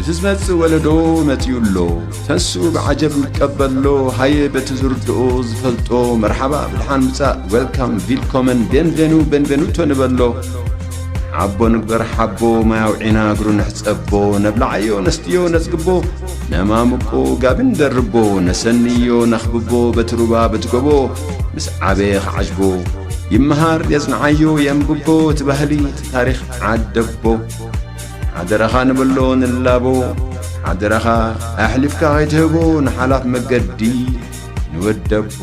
እቲ ዝመጽእ ወለዶ መጺኡ ኣሎ ተንስኡ ብዓጀብ ንቀበሎ ሃየ በቲ ዝርድኦ ዝፈልጦ መርሓባ ብድሓን ምጻእ ዌልካም ቪልኮመን ቤንቬኑ ቤንቬኑቶ ንበሎ ሓቦ ንግበር ሓቦ ማይ ኣውዒና እግሩ ንሕጸቦ ነብላዓዮ ነስትዮ ነጽግቦ ነማምቆ ጋቢ ንደርቦ ነሰንዮ ነኽብቦ በቲ ሩባ በቲ ጎቦ ምስ ዓበየ ክዓጅቦ ይመሃር የጽንዓዮ የንብቦ እቲ ባህሊ እቲ ታሪኽ ዓደቦ ሓደራኻ ንበሎ ንላቦ ሓደራኻ ኣሕሊፍካ ኸይትህቦ ንሓላፍ መገዲ ንወደቦ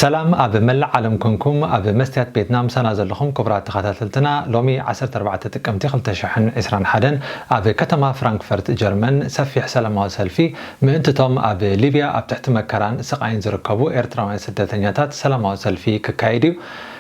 ሰላም ኣብ መላእ ዓለም ኮንኩም ኣብ መስትያት ቤትና ምሳና ዘለኹም ክቡራት ተኸታተልትና ሎሚ ዓሰርተ ኣርባዕተ ጥቅምቲ ክልተ ሽሕን ዕስራን ሓደን ኣብ ከተማ ፍራንክፈርት ጀርመን ሰፊሕ ሰላማዊ ሰልፊ ምእንትቶም ኣብ ሊብያ ኣብ ትሕቲ መከራን ስቓይን ዝርከቡ ኤርትራውያን ስደተኛታት ሰላማዊ ሰልፊ ክካየድ እዩ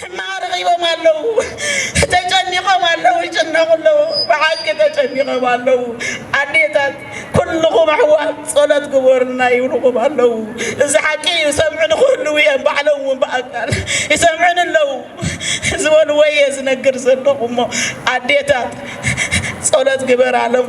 ሕማቅ ረኺቦም ኣለዉ ተጨኒቆም ኣለዉ ይጭነቁ ኣለዉ ብሓቂ ተጨኒቆም ኣለዉ ኣዴታት ኩሉኹም ኣሕዋት ጸሎት ግበሩልና ይብልኹም ኣለዉ እዚ ሓቂ እዩ ሰምዕኒ ክህልዉ እዮም ባዕሎም እውን ብኣካል ይሰምዕኒ ኣለዉ ዝበልዎ እየ ዝነግር ዘለኹ እሞ ኣዴታት ጸሎት ግበራሎም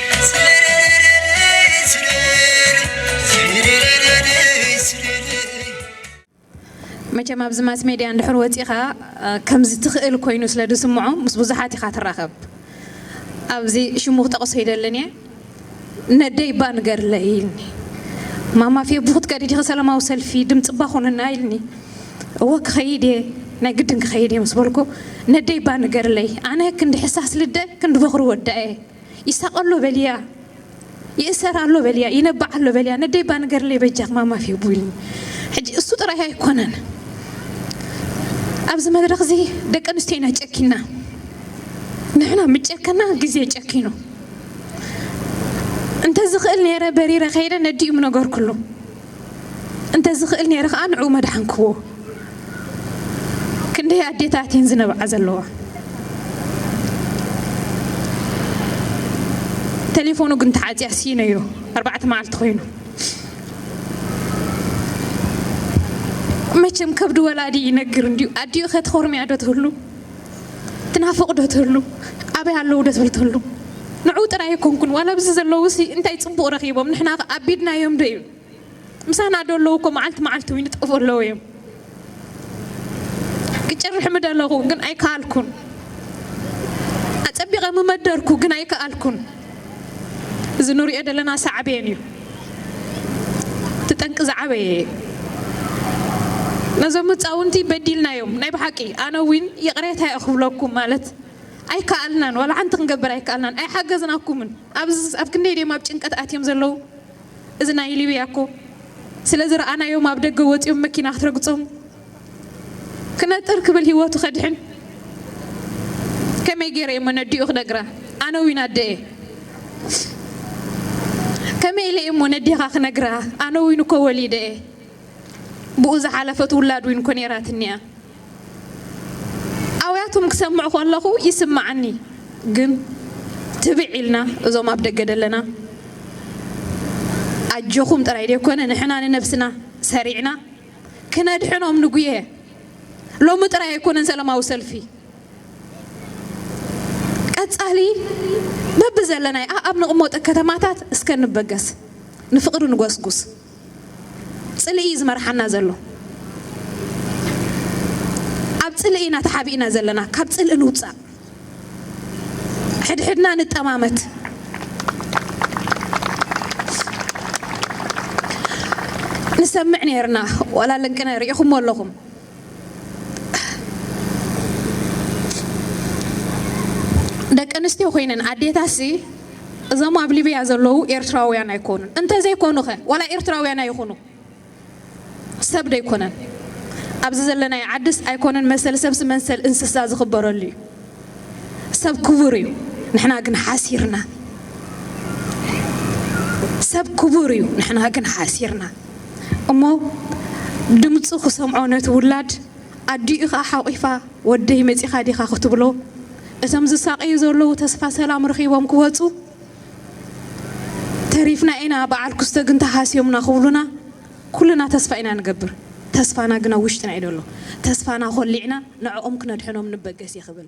መቸም ኣብዚ ማስ ሜድያ እንድሕር ወፂእኻ ከምዚ ትኽእል ኮይኑ ስለ ዝስምዖ ምስ ብዙሓት ኢኻ ትራኸብ ኣብዚ ሽሙ ክጠቕሶ ይደልን እየ ነደይ እባ ንገርለይ ኢልኒ ማማ ፌቡ ክትከዲ ዲኺ ሰላማዊ ሰልፊ ድምፂ እባ ኮንና ኢልኒ እወ ክኸይድ እየ ናይ ግድን ክኸይድ እየ ምስ በልኩ ነደይ እባ ንገርለይ ኣነ ክንዲ ሕሳስ ልደ ክንዲ በኹሪ ወዳ እየ ይሳቕ ኣሎ በልያ፣ ይእሰር ኣሎ በልያ፣ ይነብዕ ኣሎ በልያ፣ ነደይ እባ ንገርለይ በጃኽ ማማ ፌቡ ኢሉኒ። ሕጂ እሱ ጥራይ ኣይኮነን ኣብዚ መድረኽ እዚ ደቂ ኣንስትዮ ኢና ጨኪና፣ ንሕና ምጨከና ግዜ ጨኪኑ። እንተዝኽእል ነይረ በሪረ ከይደ ነዲኡ ምነገርኩሉ። እንተ ዝኽእል ኔረ ከኣ ንዕኡ መድሓንክዎ። ክንደይ ኣዴታት እየን ዝነብዓ ዘለዋ። ተሌፎኑ ግን ተዓጽያ ሲኢነዮ ኣርባዕተ መዓልቲ ኮይኑ። መቸም ከብዲ ወላዲ ይነግር እንድዩ ኣዲኡ ከትኾርምያ ዶ ትህሉ። ትናፍቕ ዶ ትህሉ ኣበይ ኣለዉ ዶ ትብል ትህሉ ንዑ ጥራይ ኣይኮንኩን ዋላ ኣብዚ ዘለዉሲ እንታይ ጽቡቕ ረኺቦም ንሕናኸ ኣቢድናዮም ዶ እዩ ምሳና ዶ ኣለዉ እኮ መዓልቲ መዓልቲ ውን ይጠፍኡ ኣለዉ እዮም ክጭርሕ ምደለኹ ግን ኣይከኣልኩን ኣጸቢቐ ምመደርኩ ግን ኣይከኣልኩን እዚ ንሪኦ ዘለና ሳዕቤን እዩ። እቲ ጠንቂ ዝዓበየ እዩ። ነዞም ህፃውንቲ በዲልናዮም ናይ ብሓቂ ኣነ ዊን ይቕሬታ እየ ክብለኩም ማለት ኣይከኣልናን ዋላ ሓንቲ ክንገብር ኣይከኣልናን ኣይሓገዝናኩምን ኣብዚ ኣብ ክንደይ ድዮም ኣብ ጭንቀት ኣትዮም ዘለዉ እዚ ናይ ሊብያ እኮ ስለ ዝረኣናዮም ኣብ ደገ ወፂኦም መኪና ክትረግፆም ክነጥር ክብል ሂወቱ ከድሕን ከመይ ገይረ እየሞ ነዲኡ ክነግራ ኣነ ዊን ኣደ እየ ከመይ ኢለ እየሞ ነዴኻ ክነግራ ኣነ ዊን እኮ ወሊደ እየ ብኡ ዝሓለፈት ውላድ ዊን እኮ ነይራትኒ እያ ኣውያቶም ክሰምዕ ከለኹ ይስማዓኒ ግን ትብዕ ኢልና እዞም ኣብ ደገ ደለና ኣጆኹም ጥራይ ደይኮነ ንሕና ንነብስና ሰሪዕና ክነድሕኖም ንጉየ ሎሚ ጥራይ ኣይኮነን ሰለማዊ ሰልፊ ቀጻሊ በብዘለናይ ኣኣብ ንቕመጦ ከተማታት እስከ ንበገስ ንፍቕሪ ንጎስጉስ ጽልኢ እዩ ዝመርሓና ዘሎ ኣብ ጽልኢ ኢና ተሓቢእና ዘለና ካብ ጽልኢ ንውጻእ ሕድሕድና ንጠማመት። ንሰምዕ ነይርና ዋላ ልንቅነ ርኢኹሞ ኣለኹም። ደቂ ኣንስትዮ ኮይነን ኣዴታሲ እዞም ኣብ ሊብያ ዘለዉ ኤርትራውያን ኣይኮኑን። እንተዘይኮኑ ከ ዋላ ኤርትራውያን ኣይኹኑ። ሰብ ዶ ኣይኮነን ኣብዚ ዘለናዮ ዓድስ ኣይኮነን መሰል ሰብስ መንሰል እንስሳ ዝኽበረሉ እዩ ሰብ ክቡር እዩ ንሕና ግን ሓሲርና ሰብ ክቡር እዩ ንሕና ግን ሓሲርና እሞ ድምፁ ክሰምዖ ነቲ ውላድ ኣዲኡ ከዓ ሓቂፋ ወደይ መፂኻ ዲኻ ክትብሎ እቶም ዝሳቀዩ ዘለዉ ተስፋ ሰላም ረኺቦም ክወፁ ተሪፍና ኢና በዓል ኩስተ ግን ተሃስዮምና ክብሉና ኩልና ተስፋ ኢና ንገብር ተስፋና ግን ኣብ ውሽጥና እዩ ደሎ ተስፋና ኮሊዕና ንዕኦም ክነድሕኖም ንበገስ እየ ክብል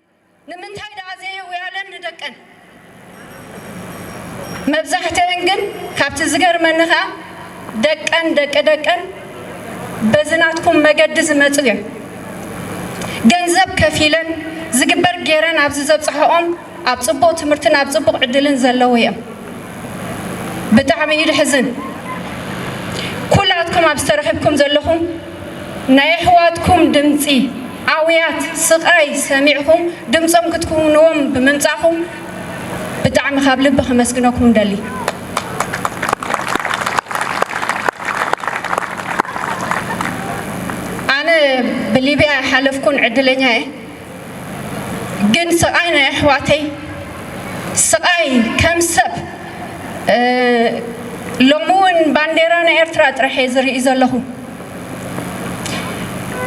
ንምንታይ ደኣ ዘየውያለን ንደቀን? መብዛሕትኤን ግን ካብቲ ዝገርመኒ ከኣ ደቀን ደቂ ደቀን በዚ ናትኩም መገዲ ዝመጹ እየን። ገንዘብ ከፊለን ዝግበር ጌረን ኣብዚ ዘብጽሐኦም ኣብ ጽቡቅ ትምህርትን ኣብ ጽቡቅ ዕድልን ዘለዉ እየም። ብጣዕሚ እዩ ድሕዝን ኩላትኩም ኣብ ዝተረኽብኩም ዘለኹም ናይ ኣሕዋትኩም ድምጺ ኣውያት ስቃይ ሰሚዕኹም ድምጾም ክትኩውንዎም ብምምጻእኹም ብጣዕሚ ካብ ልቢ ከመስግነኩም እደሊ። ኣነ ብሊብያ ኣይሓለፍኩን ዕድለኛ እየ። ግን ስቃይ ናይ ኣሕዋተይ ስቃይ ከም ሰብ ሎሚ እውን ባንዴራ ናይ ኤርትራ ጥራሕ እየ ዝርኢ ዘለኹ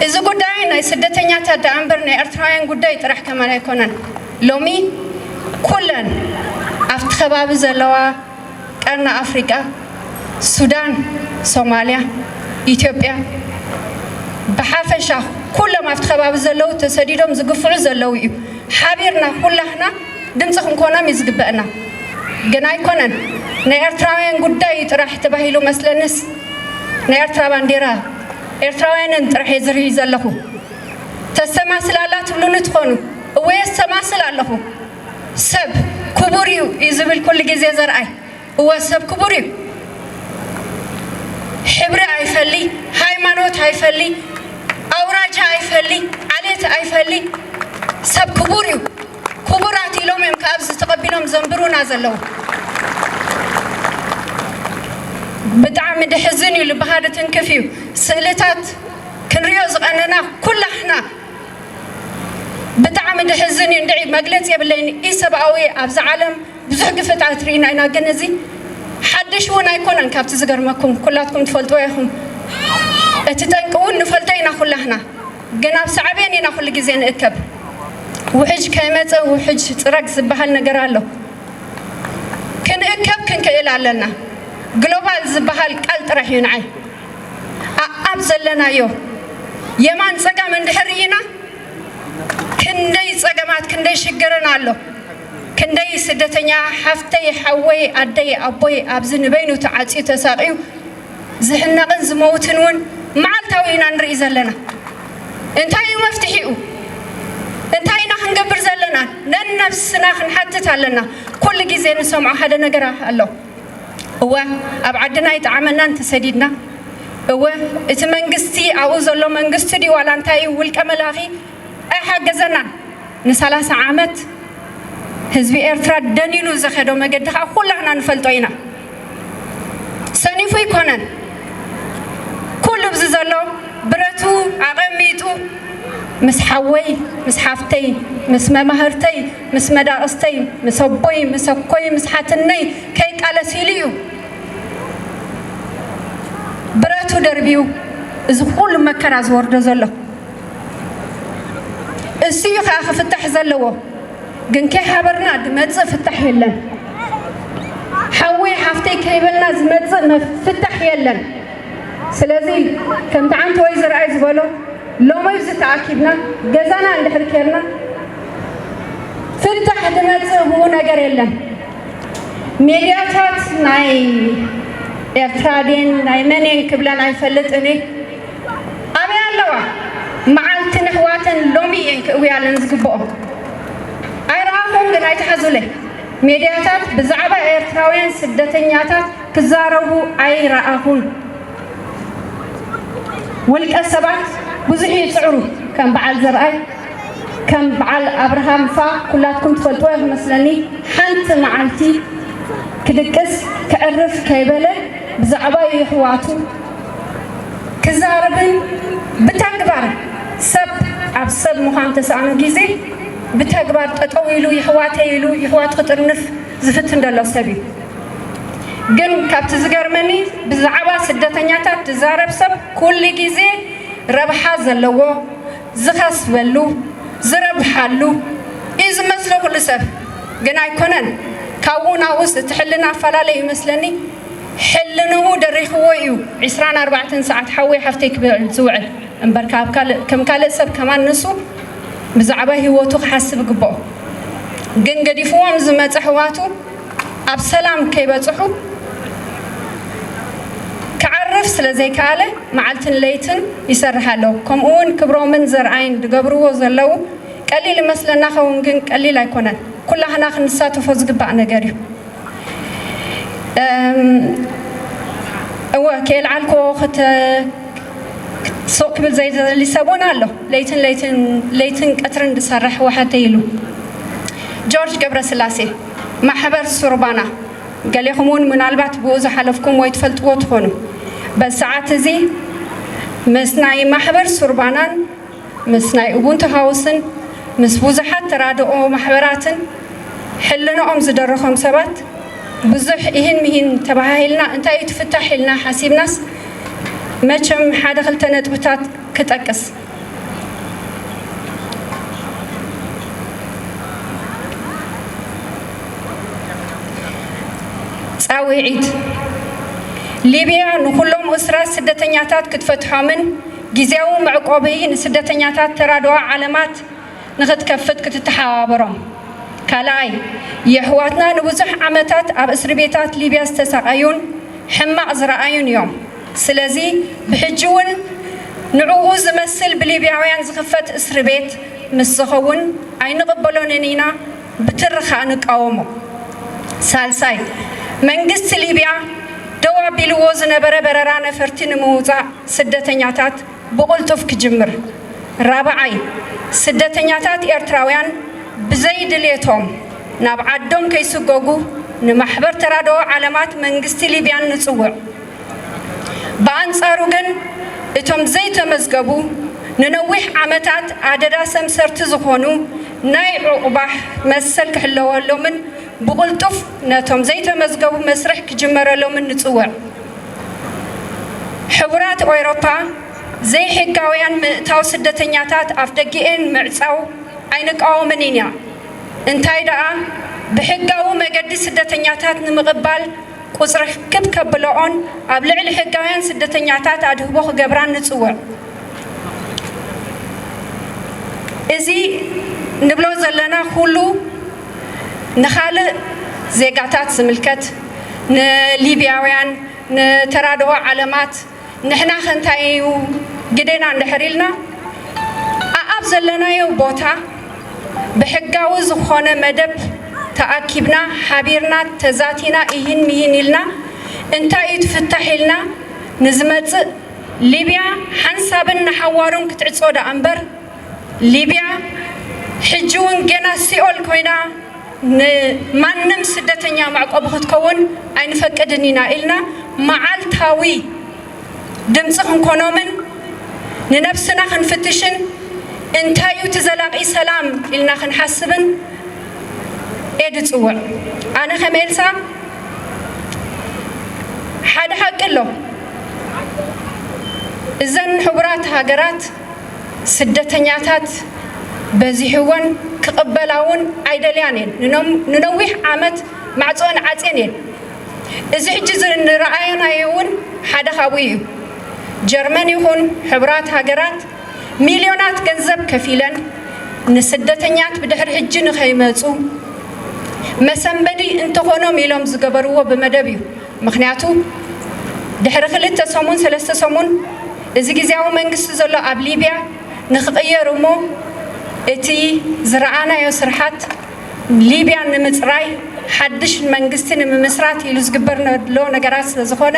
እዚ ጉዳይ ናይ ስደተኛታት ደኣ እምበር ናይ ኤርትራውያን ጉዳይ ጥራሕ ከማን ኣይኮነን ሎሚ ኩለን ኣብቲ ከባቢ ዘለዋ ቀርኒ ኣፍሪቃ፣ ሱዳን፣ ሶማልያ፣ ኢትዮጵያ ብሓፈሻ ኩሎም ኣብቲ ከባቢ ዘለዉ ተሰዲዶም ዝግፍዑ ዘለዉ እዩ። ሓቢርና ኩላህና ድምጺ ክንኮኖም እዩ ዝግበእና። ግን ኣይኮነን ናይ ኤርትራውያን ጉዳይ እዩ ጥራሕ ተባሂሉ መስለንስ ናይ ኤርትራ ባንዴራ ኤርትራውያንን ጥራሕ እየ ዝርኢ ዘለኹ። ተስተማስል ኣላ ትብሉኒ ትኾኑ እወ የስተማስል ኣለኹ። ሰብ ክቡር እዩ እዩ ዝብል ኩሉ ግዜ ዘርኣይ እወ ሰብ ክቡር እዩ ሕብሪ ኣይፈሊ ሃይማኖት ኣይፈሊ ኣውራጃ ኣይፈሊ ዓሌት ኣይፈሊ ሰብ ክቡር እዩ ክቡራት ኢሎም እዮም ካብ ዝተቐቢሎም ዘንብሩና ዘለዉ ብጣዕሚ ድሕዝን እዩ ልብኻ ድትንክፍ እዩ ስእልታት ክንሪኦ ዝቐነና ኩላሕና ብጣዕሚ ድሕዝን እዩ እንድዒ መግለፂ የብለይን ኢሰብኣዊ እዩ ኣብዚ ዓለም ብዙሕ ግፍዕታት ሪኢና ኢና ግን እዚ ሓድሽ እውን ኣይኮነን ካብቲ ዝገርመኩም ኩላትኩም ትፈልጥዎ ኢኹም እቲ ጠንቂ እውን ንፈልጦ ኢና ኩላህና ግን ኣብ ሳዕቤን ኢና ኩሉ ግዜ ንእከብ ውሕጅ ከይመፀ ውሕጅ ፅረግ ዝበሃል ነገር ኣሎ ክንእከብ ክንክእል ኣለና ግሎባል ዝበሃል ቃል ጥራሕ እዩ ንዓይ ኣኣብ ዘለናዮ የማን ጸጋም እንድሕር ርኢና ክንደይ ጸገማት ክንደይ ሽግርን ኣሎ ክንደይ ስደተኛ ሓፍተይ ሓወይ ኣደይ ኣቦይ ኣብዚ ንበይኑ ተዓጽዩ ተሳቅዩ ዝሕነቅን ዝመውትን እውን መዓልታዊ ኢና ንርኢ ዘለና እንታይ እዩ መፍትሒኡ እንታይ ኢና ክንገብር ዘለና ነነብስና ክንሓትት ኣለና ኩሉ ግዜ ንሰምዖ ሓደ ነገራ ኣሎ እወ ኣብ ዓድና ኣይጠዓመናን ተሰዲድና እወ እቲ መንግስቲ ኣብኡ ዘሎ መንግስቲ ድዩ ዋላ እንታይ እዩ ውልቀ መላኺ ኣይሓገዘናን ንሳላሳ ዓመት ህዝቢ ኤርትራ ደኒኑ ዘኸዶ መገዲ ከኣ ኩላህና ንፈልጦ ኢና ሰኒፉ ኣይኮነን ኩሉ ብዚ ዘሎ ብረቱ ኣቐሚጡ ምስ ሓወይ ምስ ሓፍተይ ምስ መማህርተይ ምስ መዳቕስተይ፣ ምስ ኣቦይ፣ ምስ ኣኮይ፣ ምስ ሓትነይ ከይቃለስ ኢሉ እዩ ብረቱ ደርብዩ እዚ ኩሉ መከራ ዝወርዶ ዘሎ። እሱ እዩ ከኣ ክፍታሕ ዘለዎ። ግን ከይሓበርና ድመጽእ ፍታሕ የለን። ሓወይ ሓፍተይ ከይበልና ዝመጽእ ፍታሕ የለን። ስለዚ ከምቲ ዓንተወይ ዘርኣይ ዝበሎ ሎሚ ኣብዚ ተኣኪብና ገዛና እንድሕር ኬርና ፍታሕ ድመጽእ ብኡ ነገር የለን ሜድያታት ናይ ኤርትራ ድን ናይ መንየን ክብለን ኣይፈልጥን እየ ኣበይ ኣለዋ መዓልቲ ንሕዋተን ሎሚ እየን ክእውያለን ዝግብኦ ኣይረኣኹም ግን ኣይትሓዙለይ ሜድያታት ብዛዕባ ኤርትራውያን ስደተኛታት ክዛረቡ ኣይረኣኹን ውልቀ ሰባት ብዙሕ ይፅዕሩ ከም በዓል ዘርኣይ ከም ብዓል ኣብርሃም እፋ ኩላትኩም ትፈልጥዎ ኢኹም መስለኒ ሓንቲ መዓልቲ ክድቅስ ክዕርፍ ከይበለ ብዛዕባ የሕዋቱ ክዛረብን ብተግባር ሰብ ኣብ ሰብ ምዃን ተሳእኑ ግዜ ብተግባር ጠጠው ኢሉ የሕዋተይ ኢሉ የሕዋቱ ክጥርንፍ ዝፍትን ዘሎ ሰብ እዩ። ግን ካብቲ ዝገርመኒ ብዛዕባ ስደተኛታት ዝዛረብ ሰብ ኩሉ ግዜ ረብሓ ዘለዎ ዝኸስበሉ ዝረብሓሉ እዩ ዝመስሎ ኩሉ ሰብ ግን ኣይኮነን ካብኡ ናብኡስ እቲ ሕልና ኣፋላለ እዩ መስለኒ ሕልንኡ ደሪኽዎ እዩ ዕስራን ኣርባዕተን ሰዓት ሓወይ ሓፍተይ ክብል ዝውዕል እምበር ከም ካልእ ሰብ ከማን ንሱ ብዛዕባ ሂወቱ ክሓስብ ይግብኦ ግን ገዲፍዎም ዝመፀ ኣሕዋቱ ኣብ ሰላም ከይበጽሑ ክዓርፍ ስለ ዘይከኣለ መዓልትን ለይትን ይሰርሕ ኣሎ። ከምኡ ውን ክብሮምን ዘርኣይን ድገብርዎ ዘለው ቀሊል እመስለና ኸውን ግን ቀሊል ኣይኮነን ኩላህና ክንሳተፎ ዝግባእ ነገር እዩ። እወ ከየልዓልክዎ ስቕ ክብል ዘይደሊ ሰብ ውን ኣሎ ለይትን ለይትን ለይትን ቀትርን ድሰርሕ ወሓተይ ኢሉ። ጆርጅ ገብረስላሴ፣ ማሕበር ሱርባና፣ ገሌኹም'ውን ምናልባት ብኡ ዝሓለፍኩም ወይ ትፈልጥዎ ትኾኑ። በዚ ሰዓት እዚ ምስ ናይ ማሕበር ሱርባናን ምስ ናይ ኡቡንቱ ሃውስን ምስ ብዙሓት ተራድኦ ማሕበራትን ሕልንኦም ዝደረኾም ሰባት ብዙሕ ኢሂን ምሂን ተበሃሂልና እንታይ እዩ እቲ ፍታሕ ኢልና ሓሲብናስ መቸም ሓደ ክልተ ነጥብታት ክጠቅስ። ፃውዒት፣ ሊብያ ንኹሎም እሱራት ስደተኛታት ክትፈትሖምን ጊዚያዊ መዕቆቢ ንስደተኛታት ተራድኦ ዓለማት ንኽትከፍት ክትተሓባበሮም። ካልኣይ፣ የሕዋትና ንብዙሕ ዓመታት ኣብ እስርቤታት ሊብያ ዝተሳቐዩን ሕማቕ ዝረኣዩን እዮም። ስለዚ ብሕጂ ውን ንዕኡ ዝመስል ብሊብያውያን ዝኽፈት እስርቤት ምስ ዝኸውን ኣይንቕበሎንን ኢና ብትሪ ከኣ ንቃወሞ። ሳልሳይ፣ መንግስቲ ሊብያ ደው ኣቢልዎ ዝነበረ በረራ ነፈርቲ ንምውጻእ ስደተኛታት፣ ብቕልጡፍ ክጅምር። ራብዓይ፣ ስደተኛታት ኤርትራውያን ብዘይ ድሌቶም ናብ ዓዶም ከይስጎጉ ንማሕበር ተራድኦ ዓለማት መንግስቲ ሊብያን ንጽውዕ። ብኣንጻሩ ግን እቶም ዘይተመዝገቡ ንነዊሕ ዓመታት ኣደዳ ሰምሰርቲ ዝኾኑ ናይ ዑቕባሕ መሰል ክሕለወሎምን ብቕልጡፍ ነቶም ዘይተመዝገቡ መስርሕ ክጅመረሎምን ንጽውዕ። ሕቡራት ኤውሮፓ ዘይሕጋውያን ምእታው ስደተኛታት ኣፍደጊኤን ምዕጻው ኣይንቃወምን ኢና እንታይ ደኣ ብሕጋዊ መገዲ ስደተኛታት ንምቕባል ቁጽሪ ክብ ከብለኦን ኣብ ልዕሊ ሕጋውያን ስደተኛታት ኣድህቦ ክገብራን ንጽውዕ እዚ ንብሎ ዘለና ኩሉ ንኻልእ ዜጋታት ዝምልከት ንሊብያውያን ንተራድኦ ዓለማት ንሕናኸ እንታይ እዩ ግዴና እንድሕር ኢልና ኣኣብ ዘለናዮ ቦታ ብሕጋዊ ዝኾነ መደብ ተኣኪብና ሓቢርና ተዛቲና ኢሂን ምሂን ኢልና እንታይ እዩ እቲ ፍታሕ ኢልና ንዝመፅእ ሊብያ ሓንሳብን ንሓዋሩን ክትዕፆ ደኣምበር ሊብያ ሕጂ ውን ጌና ሲኦል ኮይና ንማንም ስደተኛ መዕቆቢ ክትከውን ኣይንፈቅድን ኢና ኢልና መዓልታዊ ድምጺ ክንኮኖምን ንነብስና ክንፍትሽን እንታይ ዩ እቲ ዘላቂ ሰላም ኢልና ክንሓስብን እየ ድጽውዕ ኣነ ከም ኤልሳ ሓደ ሓቂ ኣሎ እዘን ሕቡራት ሃገራት ስደተኛታት በዚሕወን ክቕበላ እውን ኣይደልያን እየን። ንነዊሕ ዓመት ማዕጾኣን ዓጽየን እየን። እዚ ሕጂ ዝረኣናዮ እውን ሓደ ካብኡ እዩ። ጀርመን ይኹን ሕቡራት ሃገራት ሚልዮናት ገንዘብ ከፊለን ንስደተኛት ብድሕሪ ሕጂ ንኸይመጹ መሰንበዲ እንተኾኖም ኢሎም ዝገበርዎ ብመደብ እዩ። ምኽንያቱ ድሕሪ ክልተ ሰሙን ሰለስተ ሰሙን እዚ ግዝያዊ መንግስቲ ዘሎ ኣብ ሊብያ ንክቕየር እሞ እቲ ዝረኣናዮ ስርሓት ሊብያ ንምፅራይ ሓድሽ መንግስቲ ንምምስራት ኢሉ ዝግበር ዘሎ ነገራት ስለዝኾነ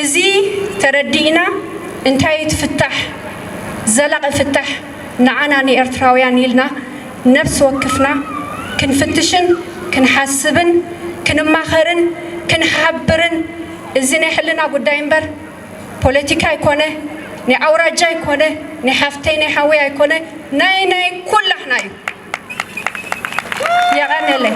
እዚ ተረዲእና እንታይ እዩ እቲ ፍታሕ ዘላቒ ፍታሕ ንዓና ንኤርትራውያን ኢልና ነፍሲ ወክፍና ክንፍትሽን ክንሓስብን ክንማኸርን ክንሓብርን እዚ ናይ ሕልና ጉዳይ እምበር ፖለቲካ ኣይኮነ ናይ ኣውራጃ ኣይኮነ ናይ ሓፍተይ ናይ ሓወይ ኣይኮነ ናይ ናይ ኩላህና እዩ የቀነለይ።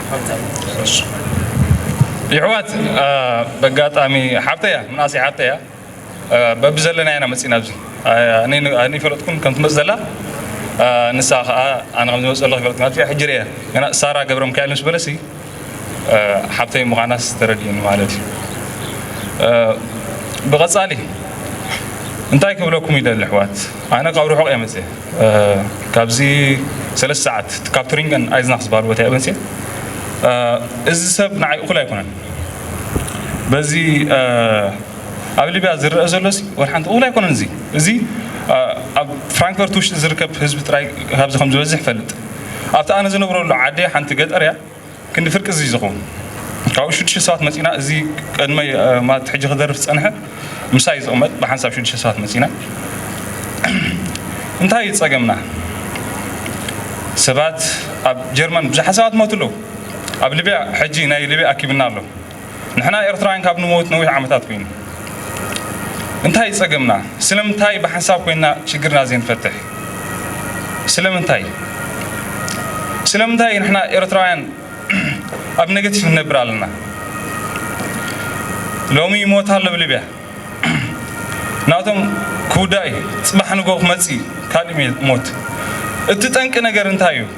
ይሕዋት በጋጣሚ ሓብተያ ምናእሰይ ሓብተያ በቢ ዘለና ኢና መፂና ኣብዚ ኣነ ይፈለጥኩም ከም ትመፅ ዘላ ንሳ ከዓ ኣነ ከም ዝመፅ ዘለኹ ይፈለጥኩም ኣብዚኣ ሕጂ ርያ ገና ሳራ ገብረ ሚካኤል ምስ በለሲ ሓብተይ ምዃናስ ተረዲኡኒ ማለት እዩ ብቐፃሊ እንታይ ክብለኩም ይደሊ ኣሕዋት ኣነ ካብ ርሑቕ እየ መፅየ ካብዚ ሰለስተ ሰዓት እቲ ካብ ቱሪንገን ኣይዝናክ ዝበሃል ቦታ እየ ወፅየ እዚ ሰብ ንዓይ እኹል ኣይኮነን በዚ ኣብ ሊብያ ዝረአ ዘሎ ሲ ወላ ሓንቲ እኹል ኣይኮነን እዚ እዚ ኣብ ፍራንክፈርት ውሽጢ ዝርከብ ህዝቢ ጥራይ ካብዚ ከም ዝበዝሕ እፈልጥ ኣብቲ ኣነ ዝነብረሉ ዓደይ ሓንቲ ገጠር እያ ክንዲ ፍርቂ እዚ ዝኸውን ካብኡ ሽዱሽተ ሰባት መፂና እዚ ቅድመይ ማለት ሕጂ ክደርፍ ዝፀንሐ ምሳይ ዝቕመጥ ብሓንሳብ ሽዱሽተ ሰባት መፂና እንታይ እዩ ፀገምና ሰባት ኣብ ጀርመን ብዙሓት ሰባት ሞቱ ኣለዉ ኣብ ሊብያ ሕጂ ናይ ሊብያ ኣኪብና ኣሎ ንሕና ኤርትራውያን ካብ ንመውት ነዊሕ ዓመታት ኮይኑ እንታይ ጸገምና ስለምንታይ ብሓንሳብ ኮይና ሽግርና ዘይንፈትሕ ስለምንታይ ስለምንታይ ንሕና ኤርትራውያን ኣብ ነገቲቭ ንነብር ኣለና ሎሚ ይሞት ኣሎ ብሊብያ ናቶም ክውዳእ እዩ ጽባሕ ንጎ ክመጽእ ካልእ ሞት እቲ ጠንቂ ነገር እንታይ እዩ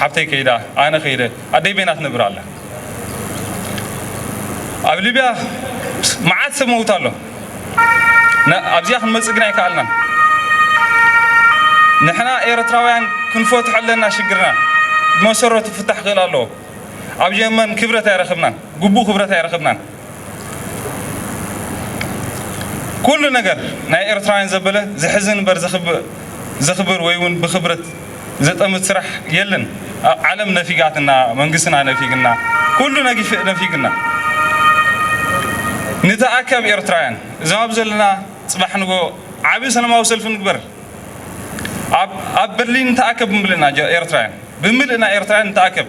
ሓብተይ ከይዳ ኣነ ከይደ ኣደይ በይና ትነብር ኣላ ኣብ ሊብያ መዓት ሰብ መውት ኣሎ ኣብዚኣ ክንመፅእ ግን ኣይከኣልናን ንሕና ኤርትራውያን ክንፈትሖ ኣለና ሽግርና ብመሰረቱ ፍታሕ ክእል ኣለዎ ኣብ የመን ክብረት ኣይረክብናን ግቡእ ክብረት ኣይረክብናን ኩሉ ነገር ናይ ኤርትራውያን ዘበለ ዘሕዝን እምበር ዘኽብር ወይ ውን ብኽብረት ዘጠምት ስራሕ የለን ኣብ ዓለም ነፊጋትና መንግስትና ነፊግና ኩሉ ነፊግና ንተኣከብ ኤርትራውያን እዞም ኣብ ዘለና ጽባሕ ንጎ ዓቢ ሰላማዊ ሰልፊ ንግበር ኣብ በርሊን ንተኣከብ ብምልእና ኤርትራውያን ብምልእና ኤርትራውያን ንተኣከብ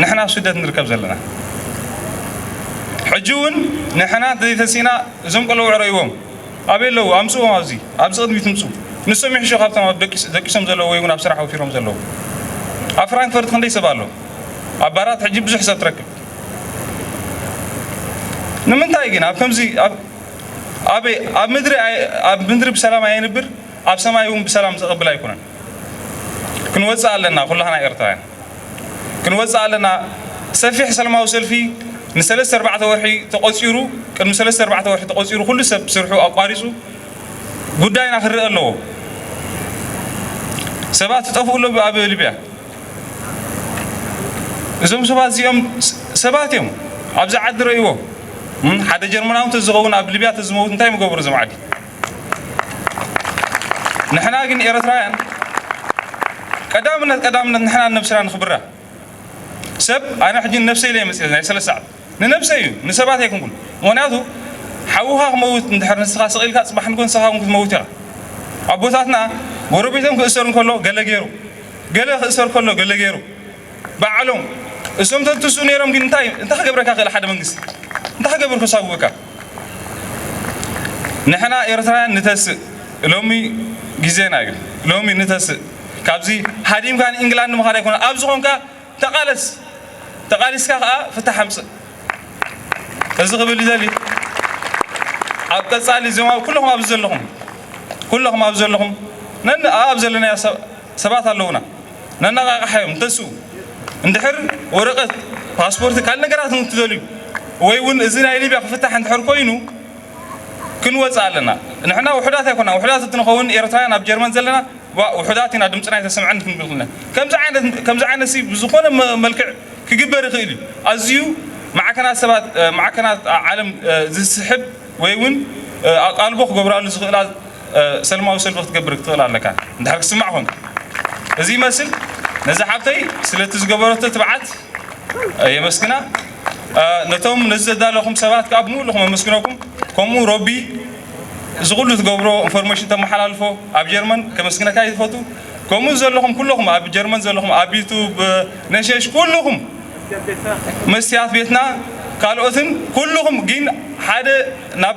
ንሕና ኣብ ስደት ንርከብ ዘለና ሕጂ እውን ንሕና ዘይተሲና እዞም ቆልዑ ዕረይዎም ኣበይ ኣለዉ ኣምፅዎም ኣብዚ ኣብዚ ቅድሚት ምፁ ንሶም ይሕሾ ካብቶም ኣብ ደቂሶም ዘለዉ ወይ እውን ኣብ ስራሕ ወፊሮም ዘለዉ ኣብ ፍራንክፈርት ክንደይ ሰብ ኣሎ ኣብ ባራት ሕጂ ብዙሕ ሰብ ትረክብ ንምንታይ ግን ኣብ ከምዚ ኣብ ምድሪ ኣብ ምድሪ ብሰላም ኣየንብር ኣብ ሰማይ እውን ብሰላም ዘቐብል ኣይኮነን ክንወፅእ ኣለና ኩላህና ኤርትራውያን ክንወጽእ ኣለና ሰፊሕ ሰልማዊ ሰልፊ ንሰለስተ ኣርባዕተ ወርሒ ተቆጺሩ ቅድሚ ሰለስተ ኣርባዕተ ወርሒ ተቆጺሩ ኩሉ ሰብ ስርሑ ኣቋሪጹ ጉዳይና ክረአ ኣለዎ ሰባት ትጠፍኡ ኣሎ ኣብ ሊብያ እዞም ሰባት እዚኦም ሰባት እዮም ኣብዚ ዓዲ ረእይዎ ሓደ ጀርመናዊ ተዝኸውን ኣብ ሊብያ ተዝመውት እንታይ ምገበሩ እዞም ዓዲ ንሕና ግን ኤረትራውያን ቀዳምነት ቀዳምነት ንሕና ንነብስና ንኽብራ ሰብ ኣነ ሕጂ ንነብሰይ ኢለ መጽኤ ናይ ሰለስተ ሰዓት ንነብሰይ እዩ ንሰባት ኣይኩንኩን ምክንያቱ ሓውኻ ክመውት እንድሕር ንስኻ ስቕ ኢልካ ጽባሕ ንጎ ንስኻ እውን ክትመውት ኢኻ ኣቦታትና ጎረቤቶም ክእሰር እንከሎ ገለ ገይሩ ገለ ክእሰር ከሎ ገለ ገይሩ ባዕሎም እሶም ተትስኡ ነይሮም ግን እንታይ እንታይ ክገብረካ ክእል ሓደ መንግስቲ እንታይ ክገብር ክሳብወካ ንሕና ኤርትራውያን ንተስእ ሎሚ ግዜና እዩ ሎሚ ንተስእ ካብዚ ሃዲምካ ንኢንግላንድ ምኻድ ኣይኮነ ኣብ ዝኾንካ ተቓለስ ተቓሊስካ ከዓ ፍታሕ ኣምፅእ እዚ ክብል ይደሊ ኣብ ቀፃሊ እዚኦም ኣብ ኩለኹም ኣብዚ ዘለኹም ኩለኹም ኣብ ዘለኹም ነን ኣብ ዘለናዮ ሰባት ኣለውና ነነቓቕሓዮም ተስኡ እንድሕር ወረቐት ፓስፖርት ካልእ ነገራት እንትደልዩ ወይ እውን እዚ ናይ ሊብያ ክፍታሕ እንድሕር ኮይኑ ክንወፅእ ኣለና ንሕና ውሑዳት ኣይኮና ውሑዳት እንትንኸውን ኤርትራውያን ኣብ ጀርመን ዘለና ውሑዳት ኢና ድምፅና ኣይተሰምዐን ክንብል ክልና ከምዚ ዓይነት ከምዚ ዓይነት ብዝኾነ መልክዕ ክግበር ይኽእል እዩ ኣዝዩ ማዕከናት ሰባት ማዕከናት ዓለም ዝስሕብ ወይ እውን ኣቓልቦ ክገብራሉ ዝኽእላ ሰልማዊ ሰልፊ ክትገብር ክትኽእል ኣለካ እንድሕር ክስማዕ ኮንካ እዚ ይመስል ነዚ ሓብተይ ስለቲ ዝገበረቶ ትብዓት የመስግና ነቶም ነዚ ዘዳለኹም ሰባት ከዓ ብምሉኹ መመስግነኩም ከምኡ ሮቢ እዚ ኩሉ ትገብሮ ኢንፎርሜሽን ተመሓላልፎ ኣብ ጀርመን ከመስግነካ ይፈቱ ከምኡ ዘለኹም ኩለኹም ኣብ ጀርመን ዘለኹም ኣብ ዩቱብ ነሸሽ ኩልኹም መስትያት ቤትና ካልኦትን ኩልኹም ግን ሓደ ናብ